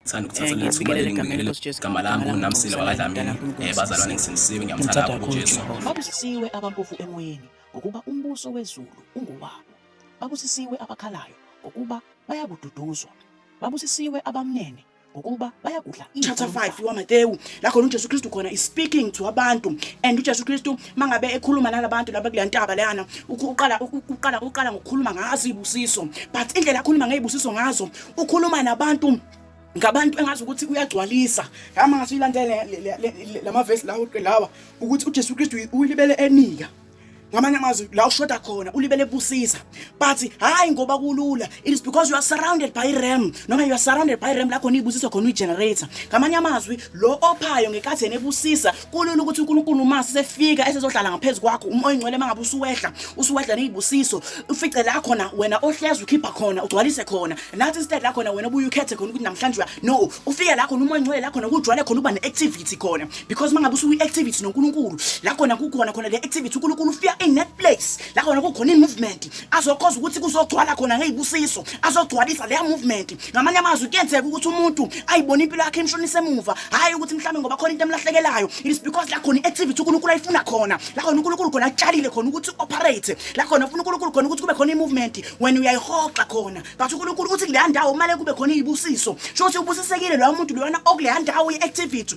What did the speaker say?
Ngithanda ukuthatha leli thuba leli ngibingelele igama langu namsila wakadlamini um bazalwane ngisindisiwe ngiyamthanda kakhulu ujesu Babusisiwe abampofu emoyeni ngokuba umbuso wezulu ungowabo. Babusisiwe abakhalayo ngokuba bayakududuzwa. Babusisiwe abamnene ngokuba bayakudla chapter 5 wamatewu la khona ujesu kristu khona is speaking to abantu and ujesu kristu mangabe ekhuluma nalabantu laba kule ntaba leyana uku- uqala uku- uqala uqala ngokukhuluma ngazo iy'busiso but indlela akhuluma ngey'busiso ngazo ukhuluma nabantu ngabantu engazi ukuthi uyagcwalisa ngama ngathi uyilandele lamavesi lawo lawa ukuthi uJesu Kristu uyilibele enika ngamanye amazwi la ushoda khona ulibele busisa but hayi ngoba kulula it is because you are surrounded by ram noma you are surrounded by ram lakho niyibusiso khona uyigenerator ngamanye amazwi lo ophayo ngekathi yena ebusisa kulula ukuthi uNkulunkulu uma sefika esezohlala ngaphezu kwakho uma oyingcwele mangabe usuwehla usuwehla nezibusiso ufice la khona wena ohlezi ukhipha khona ugcwalise khona nathi instead la khona wena ubuye ukhethe khona ukuthi namhlanje uya no ufike la khona uma oyingcwele la khona kujwale khona uba neactivity khona because mangabe usuyi activity noNkulunkulu la khona kukhona khona le activity uNkulunkulu ufika in that place la khona kukhona imovement azokhoza ukuthi kuzogcwala khona ngezibusiso azogcwalisa le movement ngamanye amazwi kuyenzeka ukuthi umuntu ayibone impilo yakhe imshonisa emuva hhayi ukuthi mhlawumbe ngoba khona into emlahlekelayo it is because la khona i-activity unkulunkulu ayifuna khona la khona unkulunkulu khona atshalile khona ukuthi operate la khona ufuna unkulunkulu khona ukuthi kube khona i-movement wena uyayihoxa khona but unkulunkulu uthi kuleya ndawo kumele kube khona iy'busiso sho ukuthi ubusisekile loya muntu loyana okuleya ndawo ye-activity